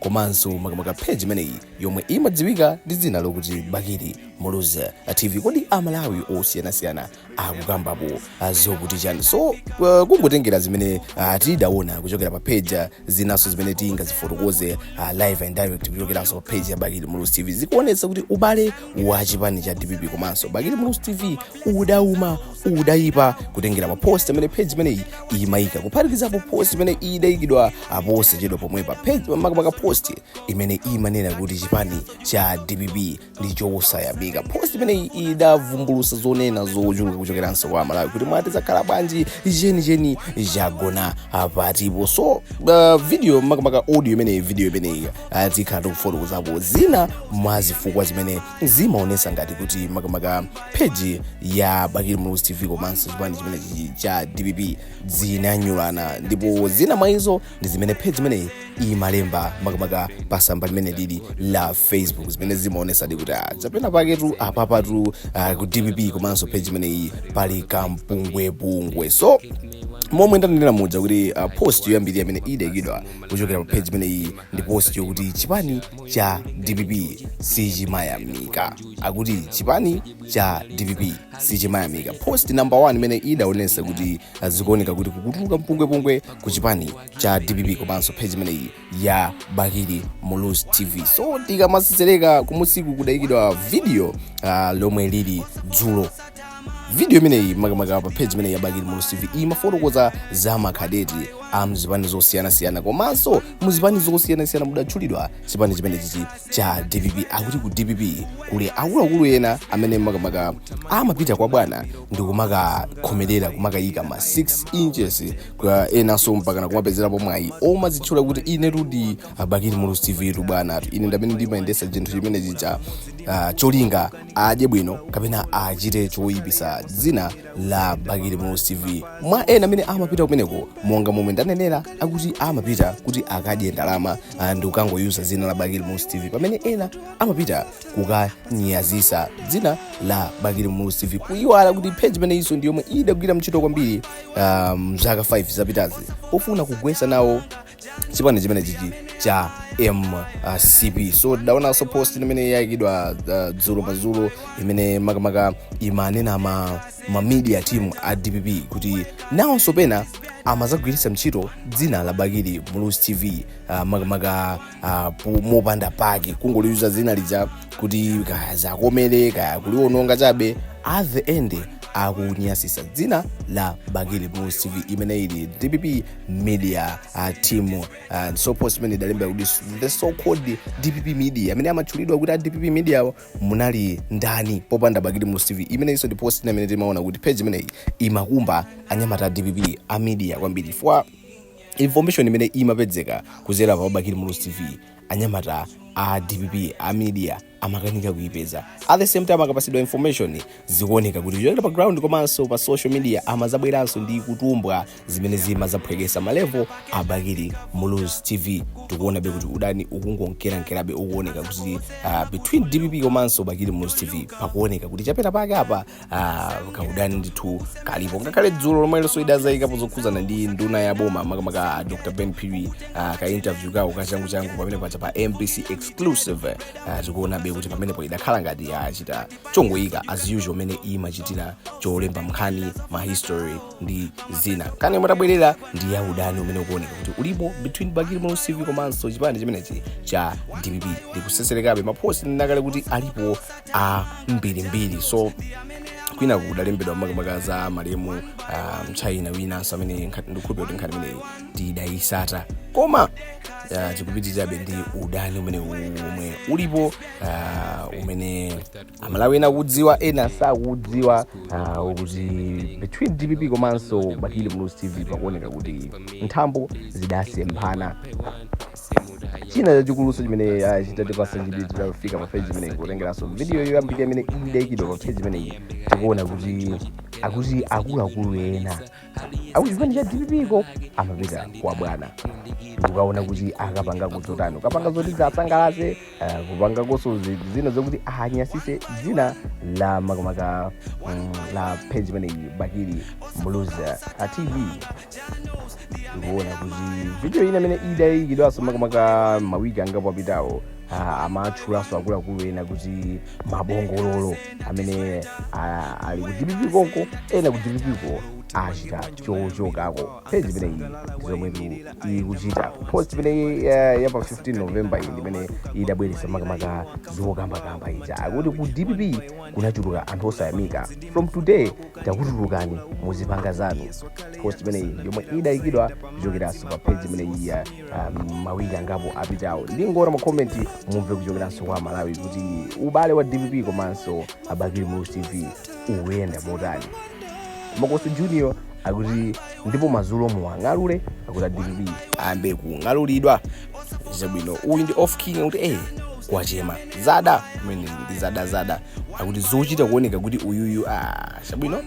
komanso makamaka page imeneyi yomwe imadziwika ndi dzina lokuti bakili muluzi tv kodi Amalawi osiyanasiyana akukambapo ah, zokuti chani so uh, kungotengera zimene uh, tidaona kuchokera pa page ah, zinanso zimene tingazifotokoze uh, live and direct kuchokeranso pa page ya bakili muluzi tv zikuonetsa kuti ubale wa chipani cha dpp komanso bakili muluzi tv udauma udayipa kutengera pa post imene page imeneyi imayika kuphatikizapo post imene idayikidwa posachedwa pomwepa makamaka post imene imanena kuti chipani cha dpp ndi chosayamika post imeneyi idavumbulusa zonena zochuluka kuchokeranso kwa Amalawi kuti mwati zakhala bwanji chenicheni chagona patipo so uh, video makamaka audio imeneyi video imeneyi uh, tikhala tikufotokozapo zina mwa zifukwa zimene zimaonesa ngati kuti makamaka page ya bakili muluzi tv komanso chipani chimenechi cha dpp zidanyulana ndipo zina mwa izo ndi zimene page imeneyi imalemba makamaka pa tsamba limene lili la facebook zimene zimaonesadi kuti ah, china chake tu apapatu ah, ku dpp komanso page imeneyi pali kampungwepungwe so momwe ndidanenera muja kuti uh, post yoyambirira imene idayikidwa kuchokera pa page imeneyi ndi post yokuti chipani cha dpp sichimayamika akuti chipani cha dpp sichimayamika post number 1 imene idaonesa kuti ah, zikuoneka kuti kukutuluka mpungwepungwe ku chipani cha dpp komanso page imeneyi ya bakili muluzi tv so tikamatsetsereka kumunsiku kudayikidwa video ah, lomwe lili dzulo video imeneyi makamaka pa page imeneyi ya bakili muluzi tv imafotokoza za makadeti a mzipani zosiyanasiyana komanso muzipani zosiyanasiyana mudatchulidwa chipani chimenechichi cha dpp akuti ku dpp kuli akuluakulu ena amene makamaka amapita kwa bwana ndi kumakakhomerera kumakayika ma 6 inches kwa enanso mpakana kumapezerapo mwayi omadzitchula kuti inetu ndi a bakili muluzi tv tu bwanatu ine ndi amene ndimayendetsa chinthu chimenechija ah, cholinga adye bwino kapena achite choyipisa dzina la Bakili Muluzi TV. Mwa ena amene amapita kumeneko monga momwe ndanenera akuti amapita kuti akadye ndalama ah, ndi kukangoyuza dzina la Bakili Muluzi TV pamene ena amapita kukanyazitsa dzina la Bakili Muluzi TV kuyiwala kuti page imeneyinso ndi yomwe idagwira ntchito kwambiri ah, mzaka 5 zapitazi pofuna kugwetsa nawo chipani chimenechichi cha mcp so tidaonanso post imene yayikidwa uh, dzulo madzulo imene makamaka imanena ma, ma media team a dpp kuti nawonso pena amazagwiritsa ntchito dzina la bakili muluzi tv uh, makamaka uh, po- mopanda pake kungoliyuza dzina lija kuti kaya ziwakomere kaya kuliwononga chabe at the end akunyazitsa dzina la bakili muluzi tv imene ili dpp media team uh, so post imene idalemba kuti the so called dpp media amene amatchulidwa kuti a dpp media awo munali ndani popanda bakili muluzi tv imeneyinso ndi post ina imene timaona kuti page imeneyi imakumba anyamata a dpp a media kwambiri chifukwa information imene imapedzeka kuzera pa bakili muluzi tv anyamata a dpp a media amakanika kuipeza at the same time akapasidwa information zikuoneka kuti kuchokera pa ground komanso pa social media amadzabweranso ndi kutumbwa zimene zimadzaphwekesa malevo a bakili muluzi tv tikuonabe kuti udani ukungonkerankerabe ukuoneka kuti uh, between dpp komanso bakili muluzi tv pakuoneka kuti chapeta pake apa ah, kaudani ndithu kalipo ngakhale dzulo lomwelonso idadzayikapo zokhuzana ndi nduna ya boma makamaka ah, dr ben phiri ah, ka interview kawo kachanguchangu pamene paja pa mbc exclusive ah, tikuonabe kuti pamenepo idakhala ngati yachita chongoyika as usual mene imachitira cholemba nkhani ma history ndi zina kani koma tabwerera ndi ya udani umene ukuoneka kuti ulipo between bakili muluzi tv komanso chipani chimenechi cha dpp ndikuseserekabe mapost ndinakale kuti alipo ambirimbiri so kwina kudalembedwa makamaka za malemu uh, mchaina winanso amene nkha- ndikukhulupira kuti nkhani imeneyi tidayitsata koma uh, tikupitirirabe ndi udani umene omwe ulipo uh, umene amalawi ena akudziwa ena sakudziwa uh, ukuti between dpp komanso bakili muluzi tv pakuoneka kuti nthambo zidasemphana china chachikulunso chimene ah, chitatipasa chidwi titafika pa page imeneyi kutengeranso video yoyambirira imene idaikidwa pa page imeneyi tikuona kuti akuti akuluakulu ena akuchipani cha dpp ko amapita kwa bwana ndikukaona kuti akapanga kudzotani ukapanga zoti asangalatse uh, kupangakonso zi- zina zokuti anyasitse dzina la makamaka mm, la page imeneyi bakili muluzi uh, tv ndikuona kuti video ina imene idayikidwanso makamaka mawiki angapo apitawo ah, amatchulanso akuluakulu ena kuti mabongololo amene ah, ali ku dpp konko ena ku dpp ko achita chochokako page imeneyi zomwe tu- ikuchita post imeneyi eh, ya pa 15 november iyi imene idabweretsa makamaka zokambakamba ija akuti ku dpp kunachuluka anthu osayamika from today takutulukani muzipanga zanu post imeneyi yomwe idayikidwa kuchokeranso pa page imeneyi ya um, mawiki angapo apitawo ndingowerenga makomenti mumve kuchokeranso kwa amalawi kuti ubale wa dpp komanso a bakili muluzi tv ukuyenda motani makosi junior akuti ndipo mazulo muwang'alule akuti a dpp ayambe kung'alulidwa zabwino uyu ndi off king akuti eh kwachema zada mene ndi zadazada akuti zochita kuoneka kuti uyuyu ah, chabwino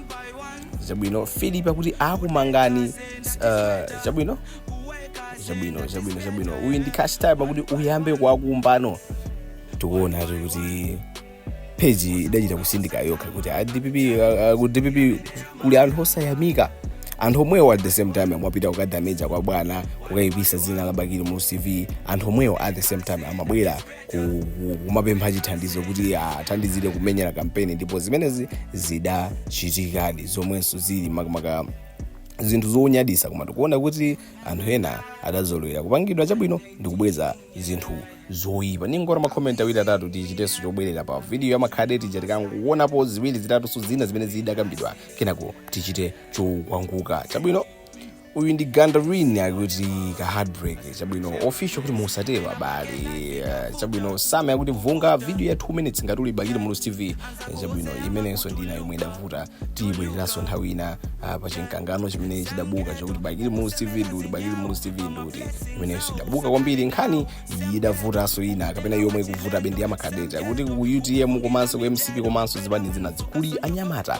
chabwino philip akuti akumangani uh, chabwino chabwino chabwino chabwino uyu ndi cash time akuti uyambe kuwakumba no tikuonatu kuti peji idachita kutsindika yokha kuti a dpp a- a- ku dpp kuli anthu osayamika anthu omwewo at the same time amapita kukadamija kwa bwana kukayipisa dzina la bakili muluzi tv anthu omwewo at the same time amabwera ku- ku- kumapempha chithandizo kuti athandizire kumenyera kampeni ndipo zimenezi zidachitikadi zomwenso zili makamaka zinthu zonyaditsa koma tikuona kuti anthu ena adazolowera kupangidwa chabwino n'kubweza zinthu zoyipa ningowona makomenti awiri atatu tichitenso zobwerera pa vidiyo ya makhadeti ija tikangowonapo ziwiri zitatunso zina zimene zidakambidwa kenako tichite chokwangula chabwino uyu ndi gandarin akuti ka heartbreak chabwino official kuti musatero abale Eh, chabwino same akuti vunga vidiyo ya 2 minutes ngati uli bakili muluzi tv Eh, chabwino imenenso ndi ina yomwe idavuta tiyibwereranso nthawi ina ah, pa chimkangano chimene chidabuka chakuti bakili muluzi tv ndi uti bakili muluzi tv ndi uti imenenso idabuka kwambiri nkhani idavutanso ina kapena yomwe ikuvutabe ndi ya makadeti kuti ku utm komanso ku mcp komanso zipani zina kuli anyamata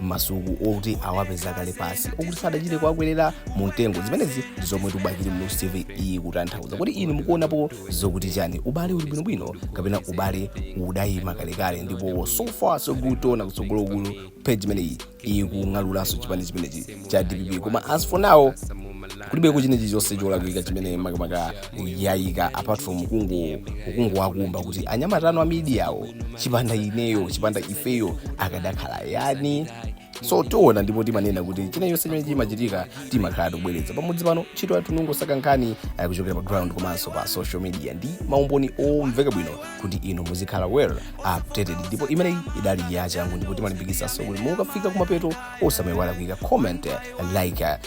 masuku okuti awapeza kale pasi okuti sadachite kuwakwerera mu mtengo zimenezi ndi zomwe ati bakili muluzi tv iyi kutanthauza kodi inu mukuonapo zokuti chani ubale uli bwinobwino kapena ubale udayima kalekale ndipo so far so good tiona kutsogoloku page imeneyi ikung'alulanso chipani chimenechi cha dpp koma as for now palibeko china chilichonse cholakwika chimene makamaka yaika apart from kungo kungowakumba kuti anyamata anu amidiyawo chipanda ineyo chipanda ifeyo akadakhala ayani so tiona ndipo timanena kuti china chonse chimene chimachitika timakhala tikubweretsa pamodzi pano ntchito yathu n'kungosaka nkhani eh, kuchokera pa ground komanso pa social media ndi maumboni omveka bwino kuti inu muzikhala well updated ndipo imeneyi idali yachangu ndipo timalimbikitsanso kuti mukafika kumapeto osamayiwala kuika comment eh, like eh,